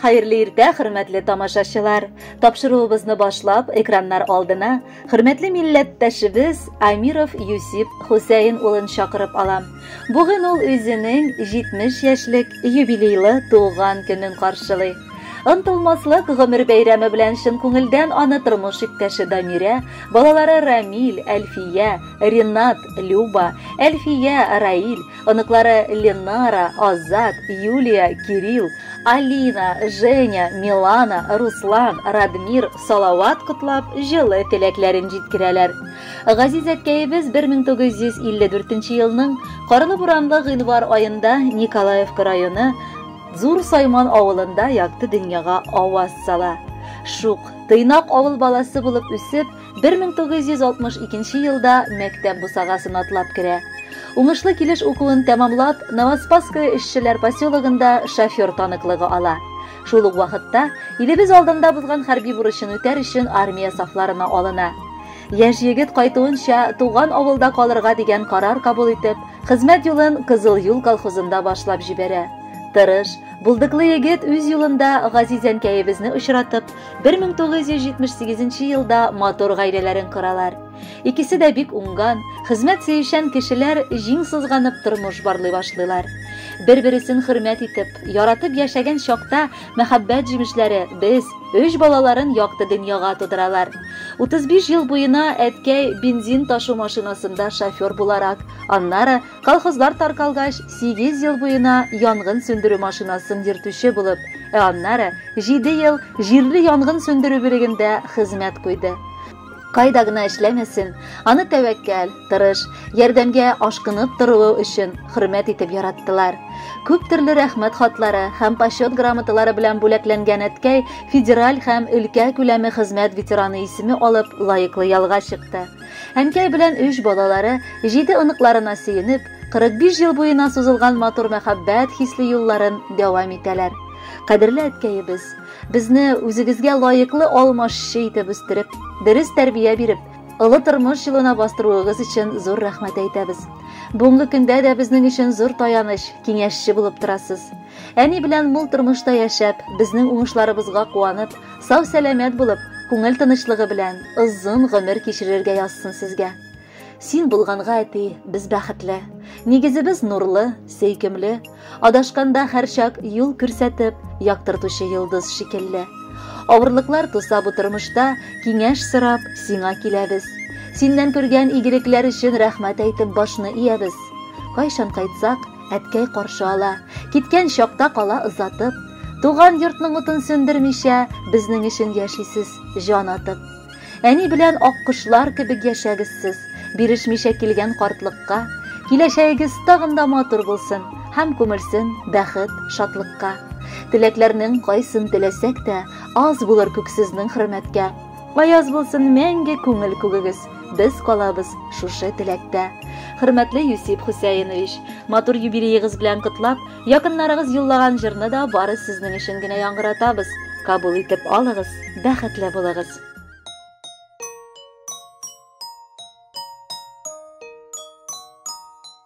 Хәерле иртә, хөрмәтле тамашачылар! Тапшыруыбызны башлап, экраннар алдына хөрмәтле милләттәшебез Амиров Юсип Хусәен улын чакырып алам. Бүген ул үзенең 70 яшьлек юбилейлы туган көнен каршылый. Ынтылмаслык гомер бәйрәме белән чын күңелдән аны тормыш иптәше Дамирә, балалары Рамил, Әлфия, Ринат, Люба, Әлфия, Раил, Оныклары Ленара, Азат, Юлия, Кирилл, Алина, Женя, Милана, Руслан, Радмир Салават котлап, җылы теләкләрен җиткерәләр. Газиз әткәебез 1954 елның карлы буранлы гыйнвар аенда Николаевка районы Зур Сайман авылында якты дөньяга аваз сала. Шук, тыйнак авыл баласы булып үсеп, 1962 елда мәктәп бусагасын атлап керә. Уңышлы килеш укуын тәмамлап, Новоспасское эшчеләр поселогында шофер таныклыгы ала. Шул ук вакытта илебез алдында бозган хәрби бурычын үтәр өчен армия сафларына алына. Яшь егет кайтуынча туган авылда калырга дигән карар кабул итеп, хезмәт юлын Кызыл юл колхозында башлап җибәрә. Тырыш, булдыклы егет үз юлында газиз әнкәебезне очратып, 1978 елда матур гаиләләрен коралар. Икесе дә бик уңган, хезмәт сөючән кешеләр җиң сызганып тормыш барлый башлыйлар. Бер-бересен хөрмәт итеп, яратып яшәгән чакта мәхәббәт җимешләре без өч балаларын якты дөньяга тудыралар. 35 ел буена әткәй бензин ташу машинасында шофер буларак, аннары Колхозлар таркалгач, сигез ел буена янгын сүндерү машинасын йөртүче булып, ә аннары җиде ел җирле янгын сүндерү бүлегендә хезмәт куйды. Кайда гына эшләмәсен, аны тәвәккәл, тырыш, ярдәмгә ашкынып торуы өчен хөрмәт итеп яраттылар. Күп төрле рәхмәт хатлары һәм почет грамоталары белән бүләкләнгән әткәй федераль һәм өлкә күләме хезмәт ветераны исеме алып лаеклы ялга чыкты. Әнкәй белән өч балалары, җиде оныкларына сөенеп, 45 ел буена сузылган матур мәхәббәт хисле юлларын дәвам итәләр. Кадерле әткәебез, безне үзегезгә лаеклы алмашчы итеп үстереп, дөрес тәрбия биреп, олы тормыш юлына бастыруыгыз өчен зур рәхмәт әйтәбез. Бүгенге көндә дә безнең өчен зур таяныч, киңәшче булып торасыз. Әни белән мул тормышта яшәп, безнең уңышларыбызга куанып, сау-сәламәт булып, күңел тынычлыгы белән озын гомер кичерергә язсын сезгә. Син булганга, әти, без бәхетле. Нигезебез нурлы, сөйкемле. Адашканда һәрчак юл күрсәтеп, яктыртучы йолдыз шикелле. Авырлыклар туса бу тормышта, киңәш сорап, сиңа киләбез. Синнән күргән игелекләр өчен рәхмәт әйтеп башны иябез. Кайчан кайтсак, Әткәй каршы ала, киткән чакта кала озатып, Туган йортның утын сөндермичә, безнең өчен яшисез, җан атып. Әни белән аккошлар кебек яшәгез сез, бирешмичә килгән картлыкка. Киләчәгегез тагын да матур булсын һәм күмелсен бәхет, шатлыкка. Теләкләрнең кайсын теләсәк тә, аз булыр күк сезнең хөрмәткә. Аяз булсын мәңге күңел күгегез. Без калабыз шушы теләктә. Хөрмәтле Юсип Хусәенович, матур юбилеегыз белән котлап, якыннарыгыз юллаган җырны да бары сезнең өчен генә яңгыратабыз. Кабул итеп алыгыз, бәхетле булыгыз.